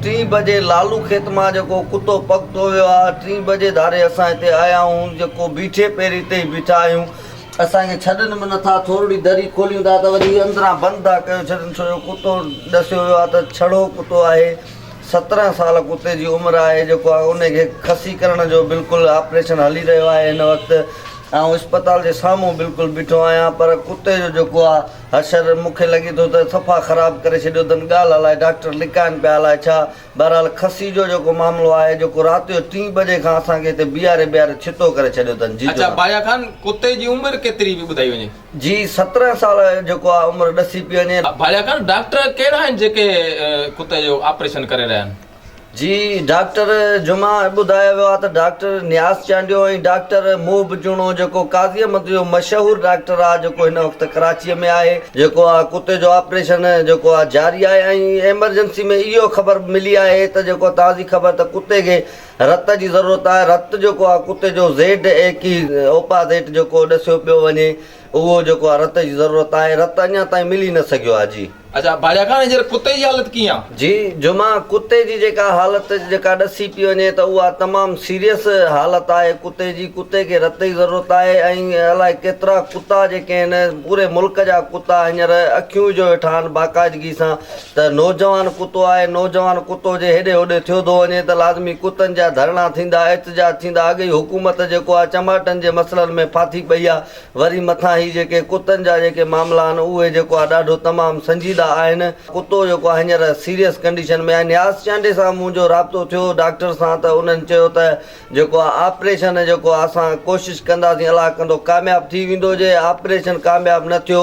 ٽين بجي لالو کيت مان جيڪو ڪتو پڳ ٿو ويو آ ٽين بجي ڌاري اسان هتي آيا آهون جيڪو بيٺي پيري هتي ئي بيٺا آهيون اسان کي ڇڏن به نٿا ٿورڙي دري کوليون ٿا ته وري اندران بند ٿا ڪيو ڇڏن ڇو جو ڪتو ڏسيو ويو آ ته ڇڙو ڪتو آهي سترهن سال ڪتي جي عمر آهي جيڪو آ انهي کي کسي ڪرڻ جو بلڪل آپريشن هلي رهيو آهي هن وقت آئون اسپتال جي سامهون بلڪل بيٺو آهيان پر ڪتي جو جيڪو آ حشر، مون کي لڳي ٿو ته صفا خراب ڪري ڇڏيو اٿن ڳالهه الاء ڊاڪٽر لڪائن پيا الاء ڇا. بهرحال خصي جو جيڪو معاملو آهي جيڪو رات جو ٽين بجي کان اسان کي هتي بيهاري بيهاري ڇتو ڪري ڇڏيو اٿن. جي جناب. اڇا بايا خان ڪتي جي عمر ڪيتري به ٻڌائي وڃي. جي سترهن سال جيڪو آهي عمر ڏسي پي وڃي. بايا خان ڊاڪٽر ڪهڙا آهن جيڪي ڪتي جو آپريشن ڪري رهيا آهن. جي ڊاڪٽر جمعه ٻڌايو ويو آهي ته ڊاڪٽر نياز چانڊيو ۽ ڊاڪٽر محب جوڻو جيڪو قاضي احمد جو مشهور ڊاڪٽر آهي جيڪو هن وقت ڪراچي ۾ آهي جيڪو آهي ڪتي جو آپريشن جيڪو آهي جاري آهي ۽ ايمرجنسي ۾ اهو خبر ملي آهي ته جيڪو تازي خبر ته ڪتي کي رت جي ضرورت آهي رت جيڪو آهي ڪتي جو زيڊ اي ڪي اوپازيٽ جيڪو ڏسيو پيو وڃي اهو جيڪو آ رت جي ضرورت آهي رت اڃا تائين ملي نه سگهيو آ جي. اچا ڀاڄا خان هينئر ڪتي جي حالت ڪيئن آ. جي جمعه ڪتي جي جيڪا حالت جيڪا ڏسي پي وڃي ته اها تمام سيريس حالت آهي ڪتي جي ڪتي کي رت جي ضرورت آهي ۽ الائي ڪيترا ڪتا جيڪي آهن پوري ملڪ جا ڪتا هينئر اکيون وجهيو ويٺا آهن باقاعدگي سان ته نوجوان ڪتو آهي، نوجوان ڪتو جي هيڏي هوڏي ٿيو ٿو وڃي ته لازمي ڪتن جا ڌرڻا ٿيندا، احتجاج ٿيندا، اڳ ئي حڪومت جيڪو آهي چماٽن جي مسئلن ۾ ڦاٿي پئي آهي، وري مٿان هي جيڪي ڪتن جا جيڪي معاملا آهن اهي جيڪو آهي ڏاڍو تمام سنجيده آهن، ڪتو جيڪو آهي هينئر سيريس ڪنڊيشن ۾ آهي، نياز چانڊي سان منهنجو رابطو ٿيو ڊاڪٽر سان ته انهن چيو ته جيڪو آهي آپريشن جيڪو آهي اسان ڪوشش ڪنداسين الله ڪندو ڪامياب ٿي ويندو جي آپريشن ڪامياب نه ٿيو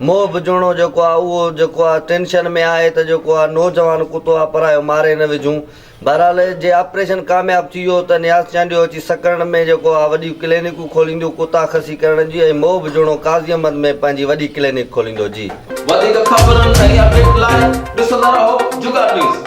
موهه وجهڻو جيڪو آ اهو جيڪو آ ٽينشن ۾ آهي ته جيڪو آ نوجوان ڪتو آ پرايو ماري نه وجهون بهرحال جي آپريشن ڪامياب ٿي ويو ته نياز چانڊيو اچي سڪرنڊ ۾ جيڪو آ وڏيون ڪلينڪون کولينديون ڪتا خصي ڪرڻ جي ۽ موهه وجهڻو قاضي احمد ۾ پنهنجي وڏي ڪلينڪ کوليندو جي. وڌيڪ خبرن ۽ اپڊيٽ لاء ڏسندا رهو جوگا نيوز.